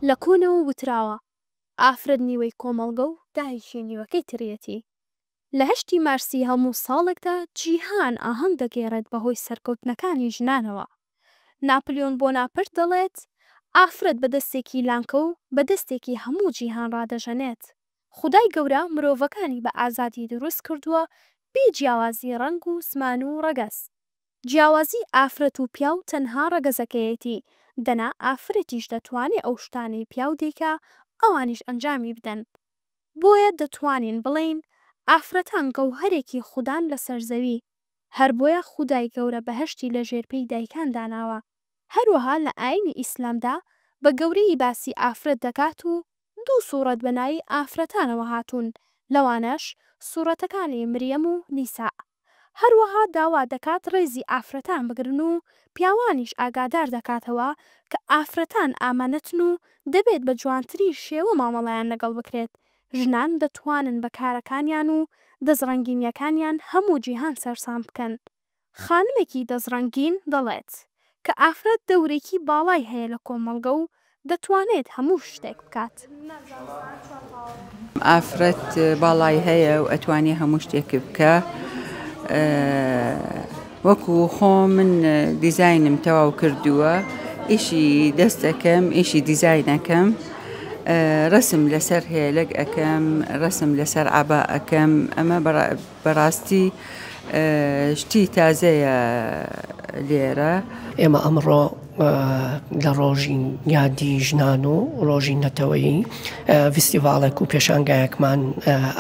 لە کۆنەوە وتراوە ئافرەت نیوەی کۆمەڵگە و دایکی نیوەکەی تریەتی. لە هەشتی مارسی هەموو ساڵێکدا جیهان ئاهەنگ دەگێڕێت بەهۆی سەرکەوتنەکانی ژنانەوە. ناپلیۆن بۆناپرت دەڵێت ئافرەت بە دەستێکی لانکە و بە دەستێکی هەموو جیهان ڕادەژەنێت. خودای گەورە مرۆڤەکانی بە ئازادی دروست کردووە بێ جیاوازی ڕەنگ و زمان و ڕەگەز. جیاوازی ئافرەت و پیاو تەنها ڕەگەزەکەیەتی دەنا ئافرەتیش دەتوانێ ئەو شتانەی پیاو دەیکا ئەوانیش ئەنجامی بدەن بۆیە دەتوانین بڵێین ئافرەتان گەوهەرێکی خودان لەسەر زەوی هەر بۆیە خودای گەورە بەهەشتی لە ژێر پێی دایکان داناوە هەروەها لە ئاینی ئیسلامدا بە گەورەیی باسی ئافرەت دەکات و دوو سوڕەت بە ناوی ئافرەتانەوە هاتوون لەوانەش سوڕەتەکانی مریەم و نیساء. هەروەها داوا دەکات ڕێزی ئافرەتان بگرن و پیاوانیش ئاگادار دەکاتەوە کە ئافرەتان ئامانەتن و دەبێت بە جوانترین شێوە مامەڵەیان لەگەڵ بکرێت، ژنان دەتوانن بە کارەکانیان و دەستڕەنگینییەکانیان هەموو جیهان سەرسام بکەن، خانمێکی دەستڕەنگین دەڵێت. کە ئافرەت دەورێکی باڵای هەیە لە کۆمەڵگە و دەتوانێت هەموو شتێک بکات. ئافرەت باڵای هەیە و ئەتوانێ هەموو شتێکی بکە وەکو خۆ من دیزینم تەواو کردووە ئیشی دەستەکەم ئیشی دیزینەکەم ڕسم لەسەر هێلک ئەەکەم ڕسم لەسەر عبا ئەەکەم ئەمە بەڕاستی شتی تازەیە لێرە. ئێمە ئەمڕۆ لە ڕۆژی یادی ژنان و ڕۆژی نەتەوەیی ڤستیڤالێک و پێشانگایەکمان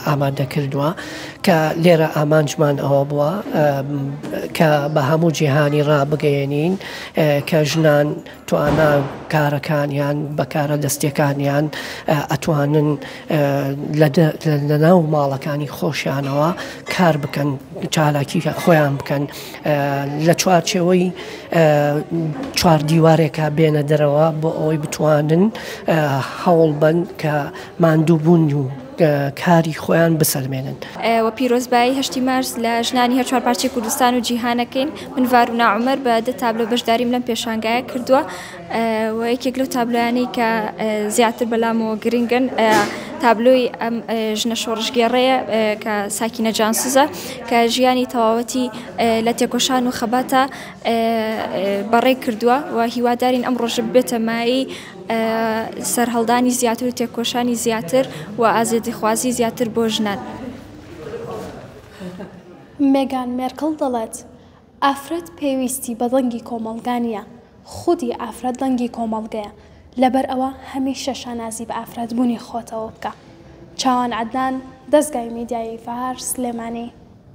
ئامادە کردووە کە لێرە ئامانجمان ئەوە بووە کە بە هەموو جیهانی ڕابگەیەنین کە ژنان توانا کارەکانیان بە کارە دەستیەکانیان ئەتوانن لە ناو ماڵەکانی خۆشیانەوە کار بکەن چالاکی خۆیان بکەن لە چوارچەوەی چوار دیوارێکا بێنە دەرەوە بۆ ئەوەی بتوانن هەوڵ بن کە ماندووبوون و کاری خۆیان بسەلمێنن و پیرۆزبایی هەشتی مارس لە ژنانی هەر چوار پارچەی کوردستان و جیهانەکەین من ڤارونا عومەر بە دە تابلۆ بەشداریم لەم پێشانگایە کردووە و یەکێک لەو تابلۆیانەی کە زیاتر بەلامەوە گرنگن تابلۆی ئەم ژنە شۆڕشگێڕەیە کە ساکینە جانسوزە کە ژیانی تەواوەتی لە تێکۆشان و خەباتە بەڕێ کردووە و هیوادارین ئەم ڕۆژە بێتەمایی سەرهەڵدانی زیاتر و تێکۆشانی زیاتر و ئازێدیخوازی زیاتر بۆ ژنان. مێگان مێرکڵ دەڵێت، ئافرەت پێویستی بە دەنگی کۆمەڵگا نییە، خودی ئافرەت دەنگی کۆمەڵگەیە، لەبەرئەوە هەمیشە شانازی بە ئافرەتبوونی خۆتەوە بکە. چاوان عەدنان، دەزگای میدیایی فەهار، سلێمانی.